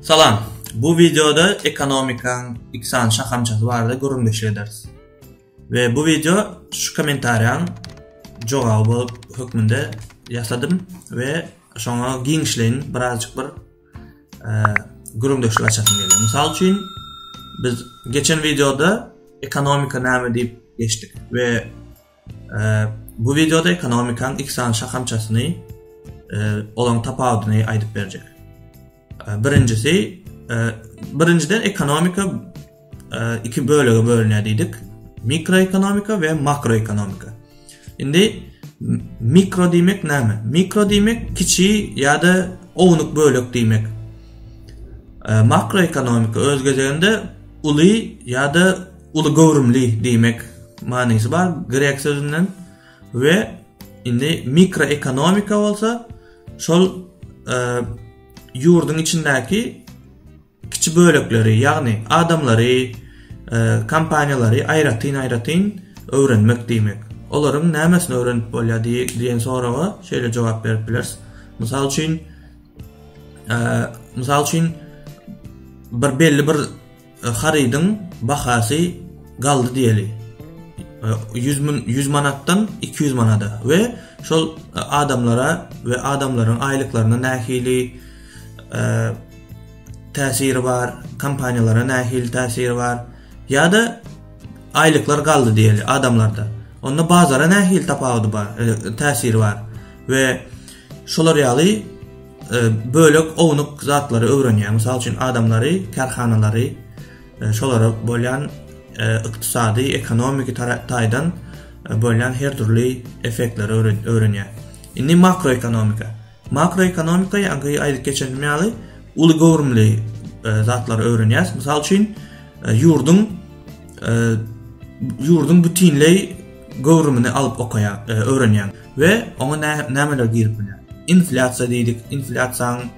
Salam! Bu wideoda ekonomikaň iki sany şahamçasy barada gürrüňdeşlik ederis. We bu wideo şu kommentariýaň jogaby bolup hökmünde ýasadym we şoňa giňişleýin birazjyk bir gürrüňdeşlik açasym gelýär. Mysal üçin, biz geçen wideoda ekonomika näme diýip geçdik we Bu wideoda ekonomikaň iki sany şahamçasyny, olaryň tapawudyny aýdyp berjek. Birinjisi, birinjiden ekonomika iki bölege bölünýär diýdik. Mikroekonomika we makroekonomika. Indi mikro diýmek näme? Mikro diýmek kiçi ýa-da ownuk bölek diýmek. Makroekonomika öz gezeginde uly ýa-da Uly göwrümli diýmek manysy bar grek sözünden we indi mikroekonomika bolsa şol e, ýurduň içindäki kiçi bölekleri, ýagny adamlary, e, kompaniýalary aýratyn-aýratyn öwrenmek diýmek. Olaryň nämesini öwrenip bolýar diýen soraga şeýle jogap berip bileris. Mysal üçin, e, mysal üçin bir belli bir Harydyň bahasy galdy diýeli ýüz müň ýüz manatdan iki ýüz manada we şol adamlara we adamlaryň aýlyklaryna nähili täsiri bar, kompaniýalara nähili täsiri bar ýa-da aýlyklar galdy diýeli adamlarda. Onda bazara nähili tapawudy bar, täsiri bar we Şolar ýaly bölek ownuk zatlary öwrenýär. Mysal üçin adamlary, kärhanalary, e, şolara bolýan e, ykdysady, ekonomiki taýdan e, bolýan her dürli effektleri öwrenýär. Indi makroekonomika. Makroekonomika ýa-da aýdyp geçenimiz ýaly uly göwrümli zatlary öwrenýär. Mysal üçin ýurduň ýurduň bütinleý göwrümini alyp okaýar, öwrenýär. We oňa nämeler girip bilýär? Inflýasiýa diýdik, inflýasiýanyň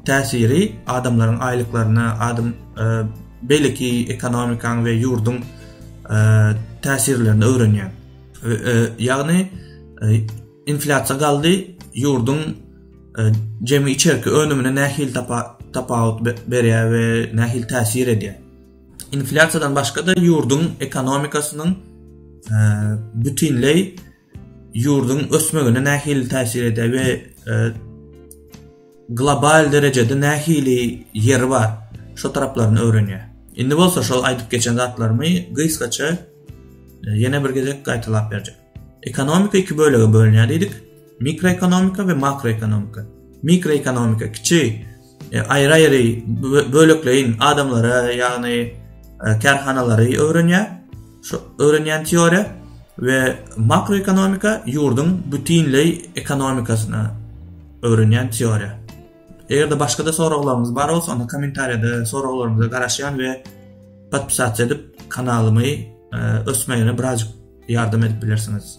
täsiri adamlaryň aýlyklaryna, adam e, beýleki ekonomikaň we ýurduň e, täsirlerini öwrenýär. E, ýagny inflýasiýa galdy, ýurduň jemi içerki önümine nähil tapawut berýär we nähil täsir edýär. Inflýasiýadan başga-da ýurduň ekonomikasynyň bütinleý ýurduň ösmegine nähili täsir edýär we global derejede nähili ýeri bar şu taraplaryny öwrenýär. Indi bolsa şol aýdyp geçen zatlarymy gysgaça ýene bir gezek gaýtalap berjek. Ekonomika iki bölege bölünýär diýdik. Mikroekonomika we makroekonomika. Mikroekonomika kiçi aýry-aýry bölekleýin adamlary, ýagny kärhanalary öwrenýär. Şu öwrenýän teoriýa we makroekonomika ýurduň bütinleý ekonomikasyny öwrenýän teoriýa. Eger-de başga-da soraglaryňyz bar bolsa, onda kommentariýada soraglaryňyza garaşýan we podpisasiýa edip kanalymy ösmegine birazjyk ýardam edip bilersiňiz.